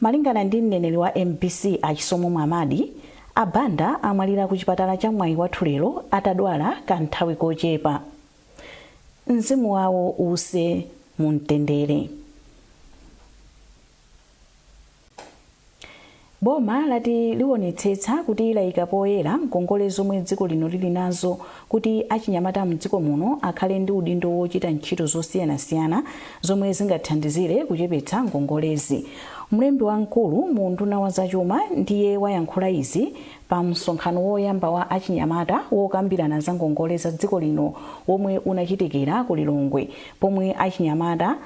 Malingana ndi mneneri wa mbc a Chisomo Mwamadi, a Banda amwalira ku chipatala cha Mwaiwathu lero atadwala ka nthawi kochepa. Mzimu wawo uuse mu mtendere. Boma lati liwonetsetsa kuti laika poyera ngongole zomwe dziko lino lili nazo Kuti achinyamata mdziko muno akhale ndi udindo wochita ntchito zosiyanasiyana zomwe zingathandizire kuchepetsa ngongolezi, mlembi wamkulu mu unduna wa zachuma ndiye wayankhula izi pa msonkhano woyamba wa achinyamata wokambirana za ngongole za dziko lino womwe unachitikira ku Lilongwe pomwe achinyamata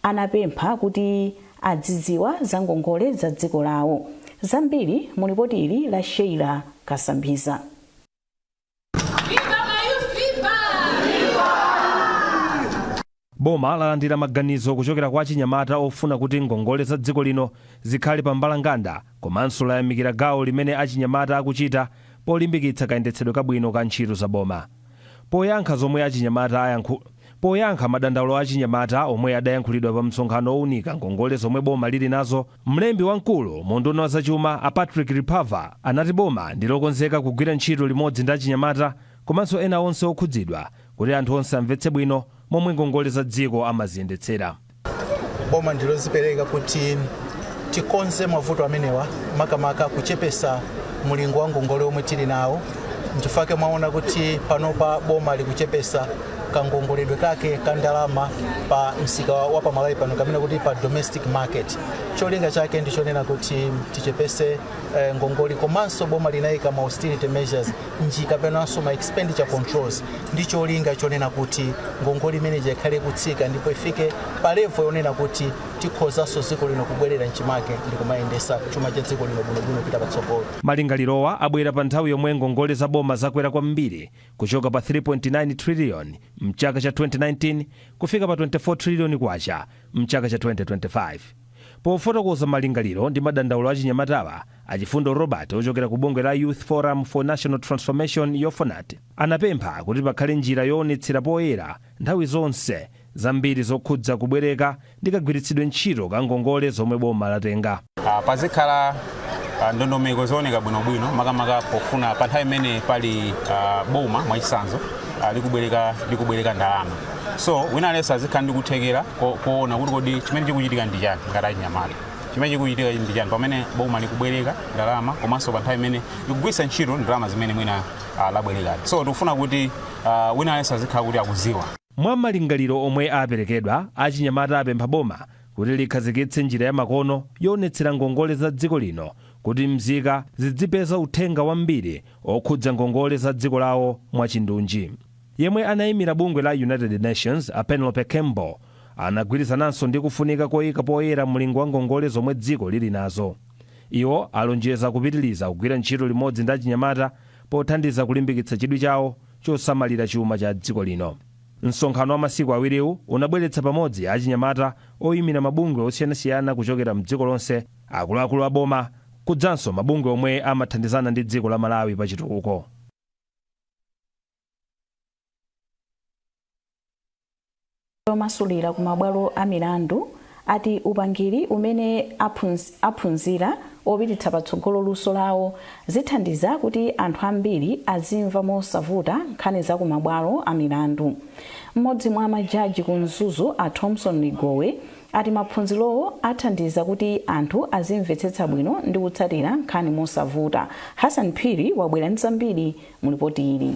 anapempha kuti adzidziwa za ngongole za dziko lawo. Zambiri mu lipoti ili la Sheila Kasambiza. Boma lalandira maganizo kuchokera kwa achinyamata ofuna kuti ngongole za dziko lino zikhale pa mbalanganda komanso layamikira gawo limene achinyamata akuchita polimbikitsa kayendetsedwe kabwino ka ntchito za boma. Poyankha madandaulo a achinyamata omwe adayankhulidwa pamsonkhano owunika ngongole zomwe boma lili nazo, Mlembi wamkulu mu unduna wa zachuma a Patrick Ripava anati boma ndi lokonzeka kugwira ntchito limodzi ndi achinyamata komanso ena onse okhudzidwa kuti anthu onse amvetse bwino momwe ngongole za dziko amaziyendetsera. Boma ndi lozipereka kuti tikonze mavuto amenewa makamaka kuchepesa mulingo wa ngongole omwe tili nawo, nchifake mwaona kuti panopa boma likuchepesa kangongoledwe kake ka ndalama pa msika wa pa Malawi pano kamene kuti pa domestic market cholinga chake ndi chonena kuti tichepese ngongole komanso boma linayika ma austerity measures nji kapenanso ma expenditure controls ndi cholinga chonena kuti ngongole imene ija ikhale kutsika ndipo ifike pa level yonena kuti tikhozanso dziko lino kubwerera mchimake ndi kumayendesa chuma cha dziko lino bwinobwino pita patsogolo Malingalirowa abwera pa nthawi yomwe ngongole za boma zakwera kwambiri kuchoka pa 3.9 trillion mchaka cha 2019 kufika pa 24 trillion kwacha mchaka cha 2025. Pofotokoza malingaliro ndi madandaulo a achinyamatawa, a Chifundo Robert ochokera ku bungwe la Youth Forum for National Transformation, Yofonat, anapempha kuti pakhale njira yoonetsera poyera nthawi zonse zambiri zokhudza kubwereka ndi kagwiritsidwe ntchito ka ngongole zomwe boma latenga. Pazikhala ndondomeko zooneka bwinobwino makamaka pofuna pa nthawi imene pali boma mwachisanzo likubwereka ndalama so wina aliyense azikhala ndi kuthekera koona kuti kodi chimene chikuchitika ndi chani ngati achinyamata chimene chikuchitika ndi chani pamene boma likubwereka ndalama komanso pa nthawi imene likugwiritsa ntchito ndalama zimene mwina labwerekazi so tikufuna kuti wina aliyense azikhala kuti akuziwa. Mwa malingaliro omwe aperekedwa, achinyamata apempha boma kuti likhazikitse njira ya makono yoonetsera ngongole za dziko lino kuti mzika zidzipeza uthenga wambiri okhudza ngongole za dziko lawo mwachindunji. Yemwe anaimira bungwe la United Nations, a Penelope Campbell, anagwirizananso ndi kufunika koika poyera mlingo wa ngongole zomwe dziko lili nazo. Iwo alonjeza kupitiliza kugwira ntchito limodzi ndi achinyamata pothandiza kulimbikitsa chidwi chawo chosamalira chuma cha dziko lino. Msonkhano wa masiku awiriwu unabweretsa pamodzi achinyamata, oimira mabungwe osiyanasiyana kuchokera m'dziko lonse, akuluakulu a boma, kudzanso mabungwe omwe amathandizana ndi dziko la Malawi pachitukuko. omasulira ku mabwalo a milandu ati upangiri umene aphunzira opititsa patsogolo luso lawo zithandiza kuti anthu ambiri azimva mosavuta nkhani za ku mabwalo a milandu mmodzi mwa majaji ku mzuzu a thomson ligowe ati maphunzirowo athandiza kuti anthu azimvetsetsa bwino ndi kutsatira nkhani mosavuta hassan phiri wabwera ndi zambiri mu lipoti ili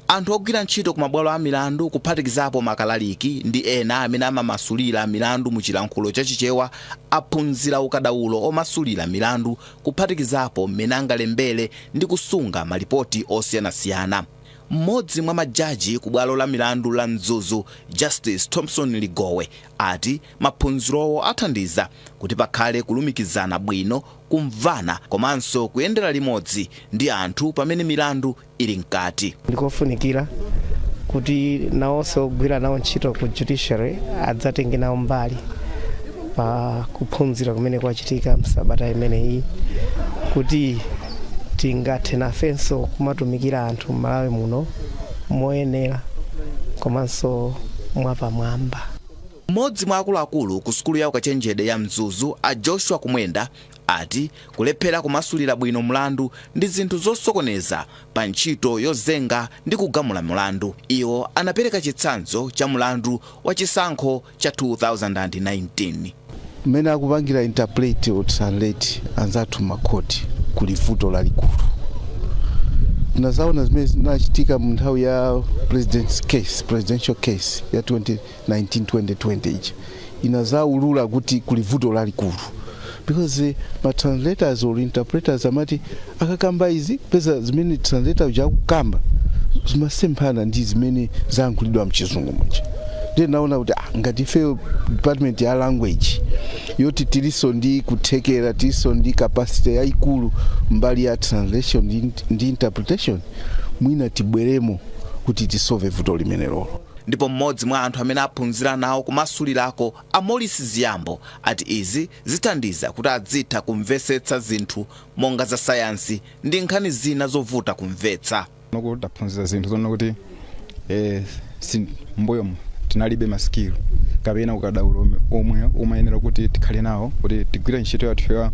Anthu ogwira ntchito ku mabwalo a milandu kuphatikizapo makalaliki ndi ena amene amamasulira milandu mu chilankhulo cha Chichewa aphunzira ukadaulo omasulira milandu kuphatikizapo m'mene angalembere ndi kusunga malipoti osiyanasiyana. M'modzi mwa majaji ku bwalo la milandu la Mzuzu Justice Thomson Ligowe ati maphunzirowo athandiza kuti pakhale kulumikizana bwino, kumvana komanso kuyendera limodzi ndi anthu pamene milandu ili mkati. ndikofunikira kuti nawonso ogwira nawo ntchito ku judiciary adzatenge nawo mbali pa kuphunzira kumene kwachitika msabata imeneyi kuti tingathe nafenso kumatumikira anthu m'malawi muno moyenera komanso mwapamwamba Mmodzi mwa akuluakulu ku sukulu ya ukachenjede ya Mzuzu a Joshua Kumwenda ati kulephera kumasulira bwino mlandu ndi zinthu zosokoneza pa ntchito yozenga ndi kugamula mlandu. Iwo anapereka chitsanzo cha mlandu wa chisankho cha 2019. Mmene akupangira interpret or translate anzathu makhoti kuli vuto lalikulu. Tinazaona zimene zinachitika mu nthawi ya presidential case ya 20 19 20 ija inazaulula kuti kuli vuto lalikulu because ma translators or interpreters amati akakamba izi kupeza zimene translator uja akukamba zimasemphana ndi zimene zayankhulidwa m'chizungu muja ndiye tinaona kuti ah, ngati ife department ya language yoti tiliso ndi kuthekera tiliso ndi capacity yayikulu mbali ya translation ndi, ndi interpretation mwina tibweremo kuti tisove vuto limenelolo Ndipo m'modzi mwa anthu amene aphunzira nawo kumasulirako, a Maurice Ziambo, ati izi zithandiza kuti adzitha kumvesetsa zinthu monga za sayansi ndi nkhani zina zovuta kumvetsa. Panopo taphunzira zinthu zonena kuti m'mbuyomu tinalibe ma skill kapena ukadaulo omwe umayenera kuti tikhale nawo kuti tigwire ntchito yathu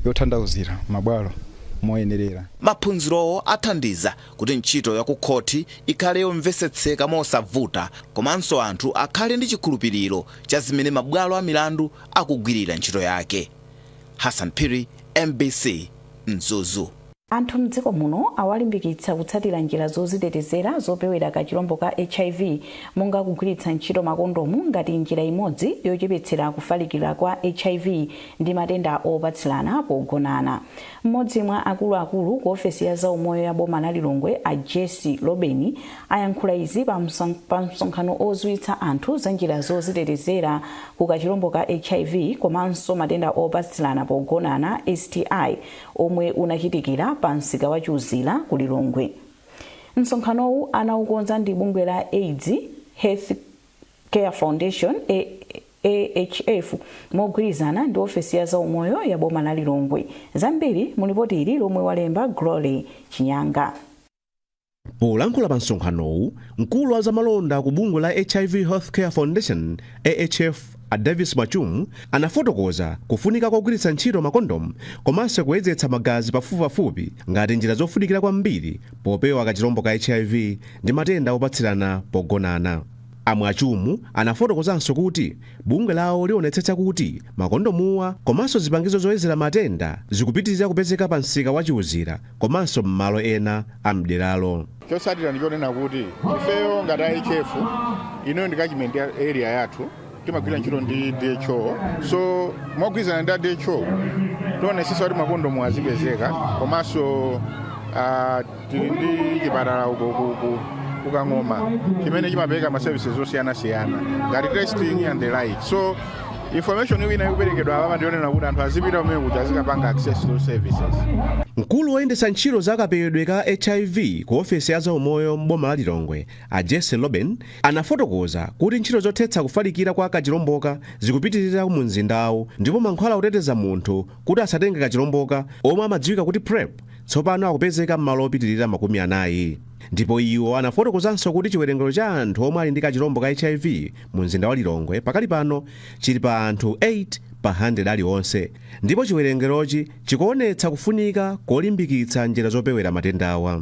yotanthauzira m'mabwalo moyenerera. Maphunzirowo athandiza kuti ntchito ya kukhoti ikhale yomvetsetseka mosavuta komanso anthu akhale ndi chikhulupiriro cha zimene mabwalo a milandu akugwirira ntchito yake. Hassan Phiri, mbc, Mzuzu. Anthu m'dziko muno awalimbikitsa kutsatira njira zozitetezera zopewera kachirombo ka hiv monga kugwiritsa ntchito makondomu ngati njira imodzi yochepetsera kufalikira kwa hiv ndi matenda opatsirana pogonana. M'modzi mwa akulu akulu ku ofesi ya zaumoyo ya boma la Lilongwe a Jessie Lobeni ayankhula izi pa msonkhano oziwitsa anthu za njira zozitetezera ku kachilombo ka hiv komanso matenda opatsilana pogonana, STI, omwe unachitikira pa msika wa Chiuzira ku Lilongwe. Msonkhanowu anaukonza ndi bungwe la aids Health. Care Foundation, AHF, mogwirizana ndi ofesi ya zaumoyo ya boma la Lilongwe. Zambiri mu lipoti ili lomwe walemba Glory Chinyanga. polankhula pa msonkhanowu mkulu wa zamalonda ku bungwe la hiv healthcare foundation ahf a davis mwachumu anafotokoza kufunika kogwiritsa ntchito makondomu komanso kuyezetsa magazi pafupipafupi ngati njira zofunikira kwambiri popewa kachilombo ka hiv ndi matenda opatsirana pogonana A Mwachumu anafotokozanso kuti bungwe lawo lionetsetsa kuti makondomuwa komanso zipangizo zoyezera matenda zikupitilira kupezeka pa msika wa Chiuzira komanso m'malo ena a m'deralo. Chotsatira ndi chonena kuti ifeyo ngati a AHF, inoyo ndi catchment area yathu, timagwira ntchito ndi dho so mogwirizana ndi a dho tionetsetsa kuti makondomu azipezeka komanso ah, tili ndi chipatala uko ku- ku- kukang'oma chimene chimapereka ma services osiyanasiyana ngati testing and the like so information imene ikuperekedwa apa ndi yonena kuti anthu azipita kumeneko kuti azikapanga access to services mkulu woyendetsa ntchito za kapewedwe ka hiv ku ofesi ya zaumoyo m'boma la lilongwe A Jesse Loben anafotokoza kuti ntchito zothetsa kufalikira kwa kachilomboka zikupitirira mu mzindawo ndipo mankhwala oteteza munthu kuti asatenge kachilomboka omwe amadziwika kuti PrEP tsopano akupezeka m'malo opitirira makumi anayi. Ndipo iwo anafotokozanso kuti chiwerengero cha anthu omwe ali ndi kachilombo ka HIV mu mzinda wa Lilongwe pakali pano chili pa anthu 8 pa 100 alionse ndipo chiwerengerochi chikuonetsa kufunika kolimbikitsa njira zopewera matendawa.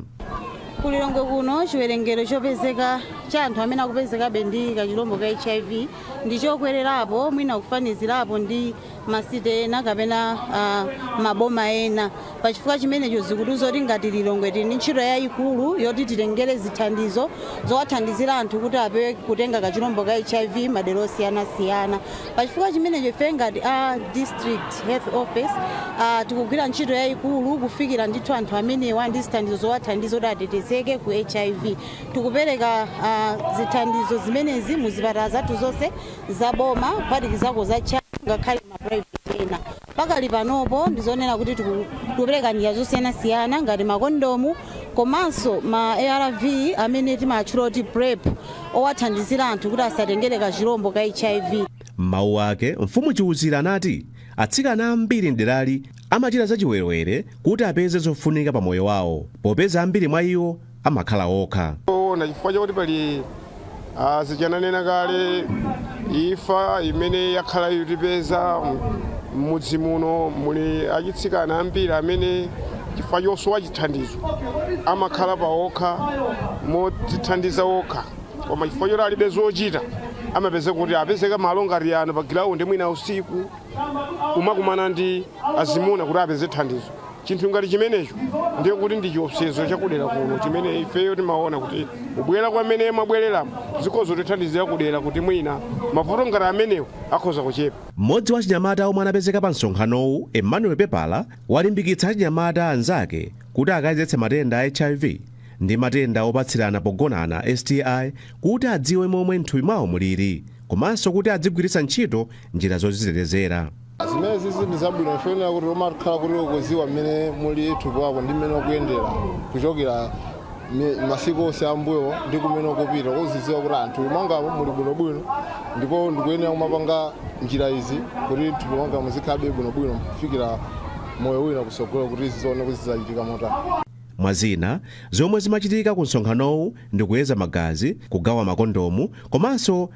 Ku Lilongwe kuno chiwerengero chopezeka cha anthu amene akupezekabe ndi kachilombo ka HIV ndi chokwererapo mwina kufanizirapo ndi masite ena kapena ah, maboma ena pa chifukwa chimenecho zikutiuza kuti ngati Lilongwe tili ndi ntchito yayikulu yoti titengere zithandizo zowathandizira anthu kuti apewe kutenga kachilombo ka HIV madera osiyanasiyana Pachifukwa chimenecho ife ngati a District Health Office tikugwira ntchito yayikulu kufikira ndithu anthu amenewa ndi zithandizo zowathandiza kuti atetezeke ku hiv. Tikupereka zithandizo zimenezi mu zipatala zathu zonse za boma kuphatikizako za CHAM ngakhale ma private ena. Pakali panopo ndi zonena kuti tikupereka njira zosiyanasiyana ngati makondomu komanso ma arv amene timatchula kuti PrEP owathandizira anthu kuti asatengere kachilombo ka HIV. M'mawu ake, Mfumu Chiuzira anati atsikana ambiri m'derali amachita zachiwerewere kuti apeze zofunika pa moyo wawo popeza ambiri mwa iwo amakhala okha. Zoona chifukwa chakuti pali ah, zichananena kale ifa imene yakhala ikutipeza m'mudzi muno muli achitsikana ambiri amene chifukwa chosowa chithandizo amakhala pa okha modzithandiza okha koma chifukwa choti alibe zochita amapezeka kuti apezeka malo ngati ano pa gilaundi mwina usiku kumakumana ndi azimuna kuti apeze thandizo chinthu ngati chimenecho ndiye kuti ndi chiopsezo chakudera kuno chimene ifeyo timaona kuti kubwera kwamene mwabwereramu zikhoza kutithandizira kudera kuti mwina mavuto ngati amenewo akhoza kuchepa mmodzi wa achinyamata omwe anapezeka pa msonkhanowu emmanuel pepala walimbikitsa achinyamata anzake kuti akayezetse matenda a hiv ndi matenda opatsirana pogonana sti kuti adziwe momwe mthupi mwawo mulili komanso kuti adzigwiritsa ntchito njira zozitetezera zimenezizi ndi zabwino chifukwa kuti umakhala kuti ukuziwa mmene muli thupi wako ndi mmene ukuyendera kuchokera mi- masiku onse ambuyo ndi kumene ukupita uziziwa kuti m'thupi mwangamo muli bwinobwino ndipo ndikuyenera kumapanga njira izi kuti thupi mwangamo muzikhalabe bwinobwino kufikira moyo wina kusogolo kuti zizione kuti zidzachitika motani mwa zina zomwe zimachitika ku msonkhanowu ndi kuyeza magazi kugawa makondomu komanso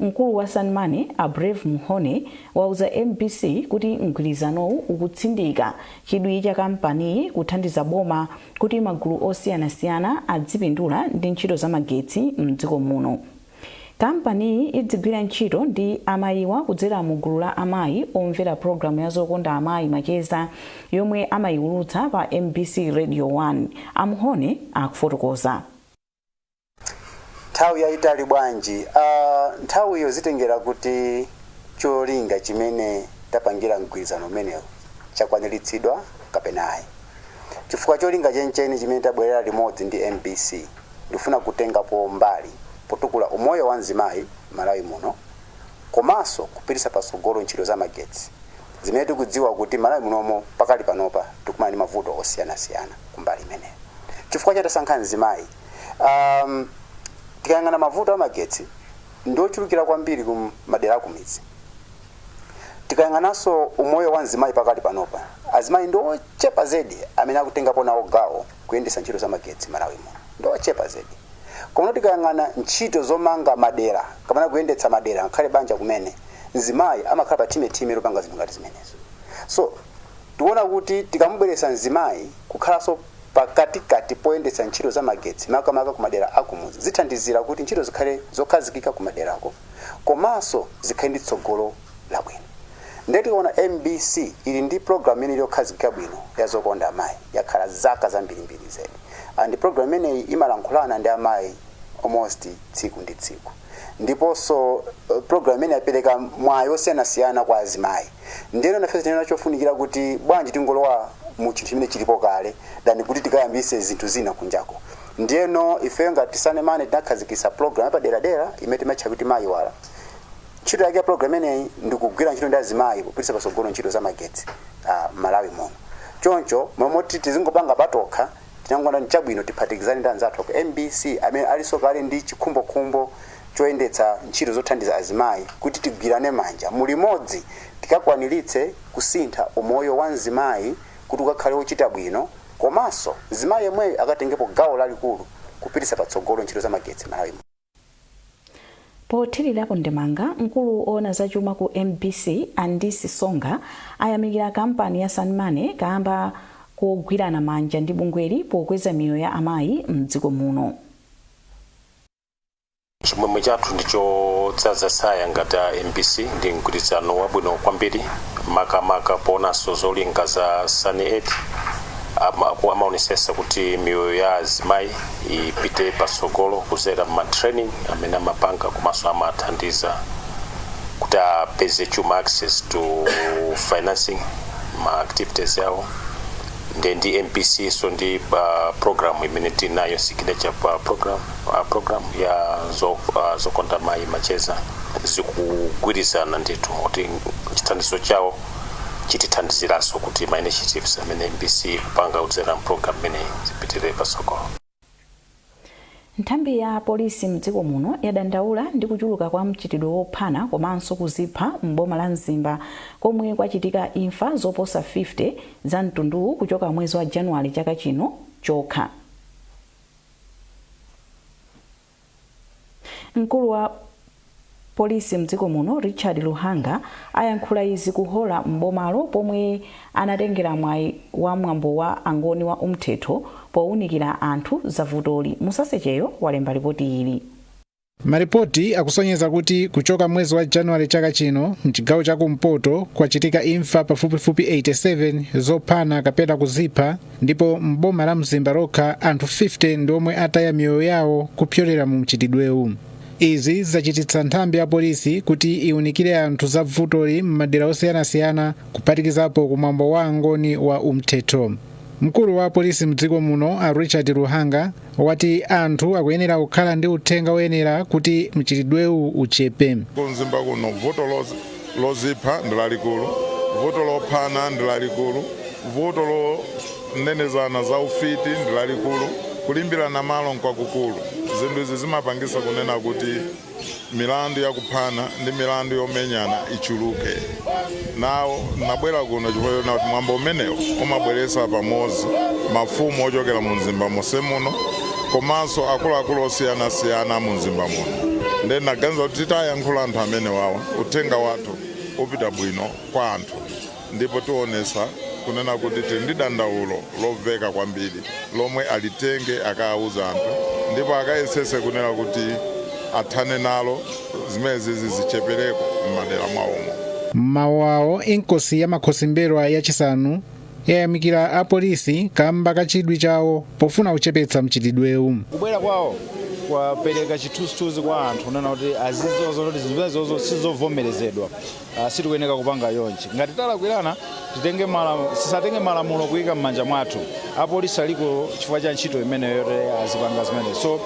Mkulu wa SunnyMoney, a Brave Mhonie, wauza mbc kuti mgwirizanowu ukutsindika chidwi cha kampaniyi kuthandiza boma kuti magulu osiyanasiyana adzipindula ndi ntchito za magetsi m'dziko muno. Kampaniyi idzigwira ntchito ndi amayiwa kudzera mu gulu la amayi omvera pulogalamu ya Zokonda Amayi Macheza yomwe amaiwulutsa pa mbc Radio 1, a Mhonie akufotokoza. nthawi yayitali bwanji uh, nthawiyo zitengera kuti cholinga chimene tapangira mgwirizano umenewu chakwaniritsidwa kapena ayi chifukwa cholinga chenicheni chimene tabwerera limodzi ndi mbc ndi kufuna kutengapo mbali potukula umoyo wa mzimayi malawi muno komanso kupititsa patsogolo ntchito za magetsi zimene tikudziwa kuti malawi munomo pakali panopa tikumana ndi mavuto osiyanasiyana kumbali imeneyo chifukwa chani tasankha mzimayi um, tikayang'ana mavuto amagetsi ndi ochulukira kwambiri ku madera akumidzi tikayang'ananso umoyo wa mzimayi pakali panopa azimayi ndi ochepa zedi amene akutengapo nawo gawo kuyendetsa ntchito za magetsi malawi muno ndi ochepa zedi Komano tikayang'ana ntchito zomanga madera kapena kuyendetsa madera ngakhale banja kumene, mzimayi amakhala pa thime thime lopanga zinthu ngati zimenezo. So, tikuona kuti tikamubweretsa mzimayi kukhalanso pakatikati poyendetsa ntchito za magetsi makamaka kumadera a kumudzi zithandizira kuti ntchito zikhale zokhazikika kumaderako komanso zikhale ndi tsogolo labwino. Nde tikuona mbc ili ndi program imene ili yokhazikika bwino ya zokonda amayi yakhala zaka zambirimbiri zedi and program imeneyi imalankhulana ndi amayi almost tsiku ndi tsiku ndiponso eh, program imeneyi yapereka mwayi osiyanasiyana kwa azimayi ndiyeno nafe tinaona nchofunikira kuti bwanji tingolowa mu chinthu chimene chilipo kale than kuti tikayambise zinthu zina kunjako ndiyeno ifeyo ngati SunnyMoney tinakhazikisa program yapaderadera imene timatcha kuti Mayi Wala Ntchito yake ya program imeneyi ndi kugwira ntchito ndi azimayi kupititsa patsogolo ntchito za magetsi ah, Malawi muno. Choncho mmalo moti tizingopanga patokha tinangoona nchabwino tiphatikizane ndi anzathu ku MBC amene alinso kale ndi chikhumbokhumbo choyendetsa ntchito zothandiza azimayi kuti tigwirane manja mulimodzi tikakwaniritse kusintha umoyo wa mzimayi kuti ukakhale wochita bwino komanso mzimayi yemweyo akatengepo gawo lalikulu kupititsa patsogolo ntchito za magetsi Malawi muno. Pothirirapo ndemanga, mkulu owona za chuma ku mbc a Ndisi Songa ayamikira kampani ya SunnyMoney kaamba kogwirana manja ndi bungweli pokweza miyoyo ya amayi mdziko muno. Chimwemwe chathu ndi chodzadza tsaya ngati a mbc ndi mgwirizano wabwino kwambiri makamaka poonanso zolinga za Sunny Aid, amaonetsetsa kuti miyoyo ya azimayi, ipite patsogolo kudzera mma training amene amapanga komanso amathandiza kuti apeze chuma access to financing ma activities awo nde ndi mbc so ndi pa program imene tinayo signature pa program uh, program ya zo, uh, zokonda mayi macheza zikugwirizana ndithu kuti chithandizo chawo chitithandiziranso kuti ma initiatives amene mbc ikupanga kudzera m'programu imeneyi zipitirire patsogolo. Nthambi ya polisi mdziko muno yadandaula ndi kuchuluka kwa mchitidwe wophana komanso kuzipha m'boma la Mzimba komwe kwachitika imfa zoposa 50 za mtunduwu kuchoka mwezi wa Januwale chaka chino chokha. Mkulu wa Polisi mdziko muno Richard Luhanga ayankhula izi ku Hora m'bomalo pomwe anatengera mwayi wa mwambo wa Angoni wa Umthetho powunikira anthu za vutoli. Musasecheyo walemba lipoti ili. Malipoti akusonyeza kuti kuchoka mwezi wa Januwale chaka chino, m'chigawo cha kumpoto kwachitika imfa pafupifupi 87 zophana kapena kuzipha, ndipo m'boma la mzimba lokha anthu 50 ndi omwe ataya miyoyo yawo kupyolera mu mchitidwewu izi zachititsa nthambi ya polisi kuti iwunikire anthu za vutoli m'madera osiyanasiyana kuphatikizapo kumwambo wa angoni wa umthetho mkulu wa polisi mdziko muno a richard luhanga wati anthu akuyenera kukhala ndi uthenga woyenera kuti mchitidwewu uchepe. ku mzimba kuno vuto loz- lozipha ndi lalikulu vuto lophana ndi lalikulu vuto lonenezana za ufiti ndi lalikulu kulimbirana malo nkwakukulu zinthu izi zimapangisa kunena kuti milandu ya kuphana ndi milandu yomenyana ichuluke nawo nabwera kuno chifukwa choti kuti mwambo umenewu umabweretsa pamodzi mafumu ochokera mu mzimba monse muno komanso akuluakulu osiyanasiyana mu mzimba muno ndiye naganiza kuti titayankhula anthu amenewawa uthenga wathu upita bwino kwa anthu Ndipo tionetsa kunena kuti tili ndi dandaulo lomveka kwambiri lomwe alitenge akauze anthu ndipo akayetsetse kunena kuti athane nalo zimenezizi zichepereko m'madera mwawomo. M'mawu awo, Inkosi ya Makhosi M'mbelwa ya chisanu yayamikira a polisi kamba ka chidwi chawo pofuna kuchepetsa mchitidwewu. Kubwera kwawo kwapereka chithunzithunzi kwa anthu kunena kuti azidziwa zonena kuti zinthu zimenezozo sizovomerezedwa. Ah, sitikuyeneka kupanga yonchi ngati talakwirana titenge malamu- sisatenge malamulo kuyika m'manja mwathu apolisi aliko chifukwa cha ntchito imeneyo yoti azipanga zimene so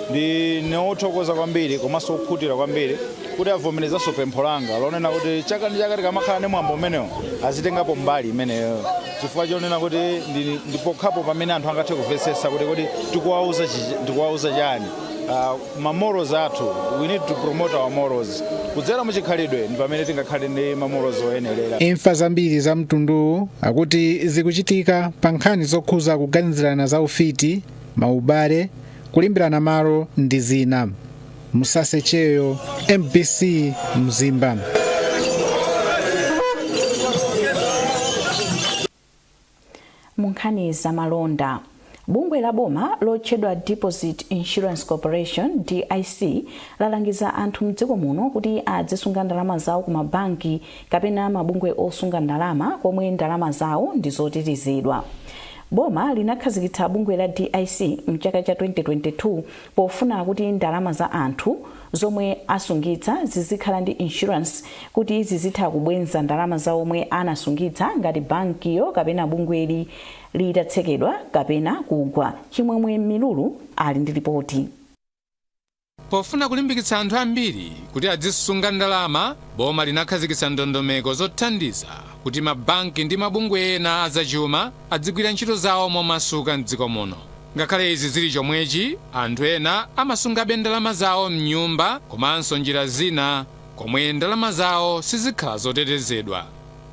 ndine wothokoza kwambiri komanso wokhutira kwambiri kuti avomerezanso pempho langa lonena kuti chaka ndi chaka tikamakhala ndi mwambo umenewo azitengapo mbali imeneyo chifukwa chonena kuti ndi- ndipokhapo pamene anthu angathe kumvetsetsa kuti kodi tikuwauza chi- tikuwauza chiyani Ah, ma morals athu, we need to promote our morals. Kudzera mu chikhalidwe ndi pamene tingakhale ndi ma morals oyenerera. imfa zambiri za mtunduwu akuti zikuchitika pa nkhani zokhuza kuganizirana za ufiti maubale kulimbirana malo ndi zina Musase Cheyo MBC Mzimba Mu nkhani za malonda, bungwe la boma lotchedwa Deposit Insurance Corporation, DIC, lalangiza anthu m'dziko muno kuti adzisunga ndalama zawo ku mabanki kapena mabungwe osunga ndalama komwe ndalama zawo ndi zotetezedwa. Boma linakhazikitsa bungwe la DIC m'chaka cha 2022 pofuna kuti ndalama za anthu zomwe asungitsa zizikhala ndi insurance kuti zizitha kubwenza ndalama za omwe anasungitsa ngati bankiyo kapena bungweli litatsekedwa kapena kugwa. Chimwemwe Milulu ali ndi lipoti. Pofuna kulimbikitsa anthu ambiri kuti adzisunga ndalama, boma linakhazikitsa ndondomeko zothandiza kuti mabanki ndi mabungwe ena a zachuma, adzigwira ntchito zawo momasuka m'dziko muno. Ngakhale izi zili chomwechi, anthu ena amasungabe ndalama zawo m'nyumba komanso njira zina komwe ndalama zawo sizikhala zotetezedwa.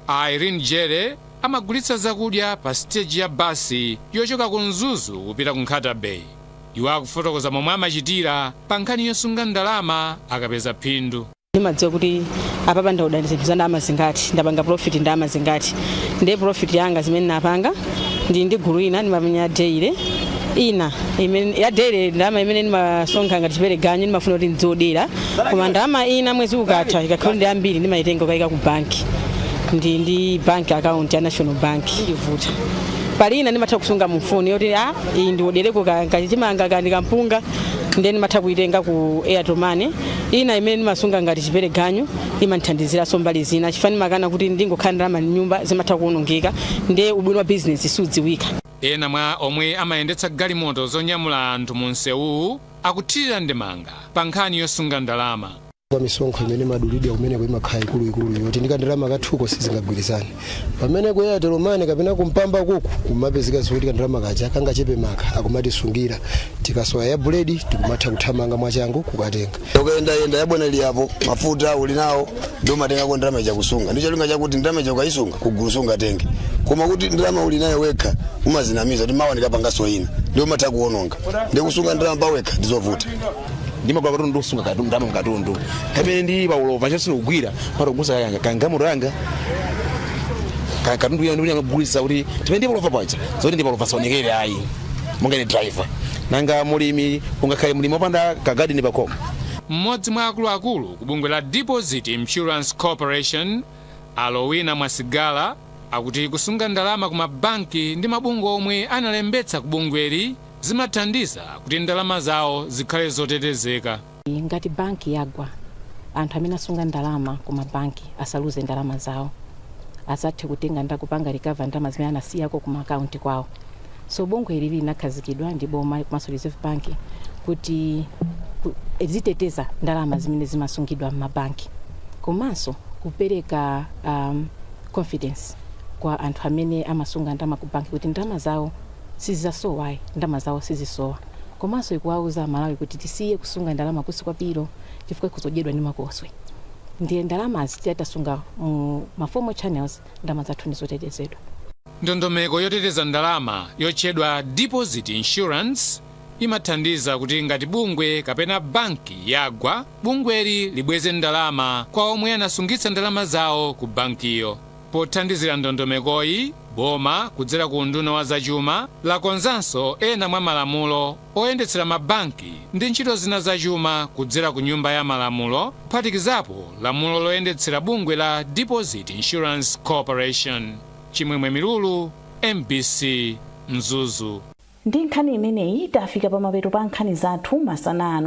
A Irene Jere amagulitsa zakudya pa siteji ya basi yochoka ku Mzuzu kupita ku Nkhata Bay. Iwo akufotokoza momwe amachitira pa nkhani yosunga ndalama akapeza phindu. ndimadziwa kuti apapa ndaoda zinthu za ndalama zingati ndapanga profit ndalama zingati ndiye profit yanga zimene napanga ndi ndi gulu ina ndimamenya daily ina imene ya daily ndalama imene ndimasonkha ngati chipereganyu ndimafuna kuti ndidziodera koma ndalama ina mwezi ukatha ikakhala ndi ambiri ndimayitenga kukayika ku banki ndi ndi bank account ya national bank ndivuta pali ina ndimatha kusunga mufoni yoti a iyi ndiodereko kachimanga kandi kampunga ndiye ndimatha kuyitenga ku airtel money Ina imene ndimasunga ngati chipereganyu imandithandiziranso mbali zina chifukwa ndimakana kuti ndingokhala ndalama m'nyumba zimatha kuonongeka nde ubwino wa bizinesi sudziwika. Ena mwa omwe amayendetsa galimoto zonyamula anthu mu msewuwu akuthirira ndemanga pa nkhani yosunga ndalama. Kwa misonkho imene imadulidwa kumeneko imakhala ikuluikulu yoti ndi kandalama kathuko sizingagwirizane. pamene ku airtel money kapena kumpamba kuku kumapezeka zoti kandalama kaja kangachepe maka akumatisungira tikasowa ya buledi tikumatha kuthamanga mwachangu kukatenga ukayendayenda yabwanali yapo mafuta uli nawo ndiye umatengako ndalama yakusunga ndi cholinga chakuti ndalama ukaisunga kugulu sungatenge koma kuti ndalama uli nayo wekha umazinamiza kuti mawa ndikapangaso ina ndiye umatha kuononga ndikusunga ndalama pawekha ndizovuta ndimagula katundu ndikusunga katundu ndalama mkatundu pamene ndili pa ulova chonse ndikugwira pata kugusa kanga kangamuro yanga Ka- katundu yanga ndikuti kugulisa kuti mmene ndili pa ulova paja zoti ndili pa ulova zisaonekere ayi monga ni driver nanga mulimi ungakhale mulimi wopanda kagadini pakhomo mmodzi mwa akuluakulu ku bungwe la deposit insurance corporation alowina mwasigala akuti kusunga ndalama ku mabanki ndi mabungwe omwe analembetsa ku bungweli zimathandiza kuti ndalama zawo zikhale zotetezeka. Ngati banki yagwa, anthu amene asunga ndalama ku mabanki asaluze ndalama zawo. Adzathe kutenga nda kupanga recover ndalama zimene anasiyako ku ma account kwawo. So bungwe ili linakhazikidwa ndi boma komanso Reserve Bank kuti ku, ziteteza ndalama zimene zimasungidwa m'mabanki komanso kupereka um, confidence kwa anthu amene amasunga ndalama ku banki kuti ndalama zawo sizidzasowa ayi ndalama zawo sizisowa komanso ndikuwauza amalawi kuti tisiye kusunga ndalama kunsi kwa pilo chifukwa ikhoza kudyedwa ndi makoswe ndiye ndalamazi titati tasunga mu ma formal channels ndalama zathu ndizotetezedwa. Ndondomeko yoteteza ndalama yotchedwa deposit insurance imathandiza kuti ngati bungwe kapena banki yagwa, bungweli libweze ndalama kwa omwe anasungitsa ndalama zawo ku bankiyo. Pothandizira ndondomekoyi, boma, kudzera ku unduna wa zachuma, lakonzanso ena mwa malamulo oyendetsera mabanki ndi ntchito zina zachuma kudzera ku Nyumba ya Malamulo, kuphatikizapo lamulo loyendetsera bungwe la Deposit Insurance Corporation. Chimwemwe Milulu, mbc, Mzuzu. Ndi nkhani imeneyi tafika pamapeto pa nkhani zathu masana ano.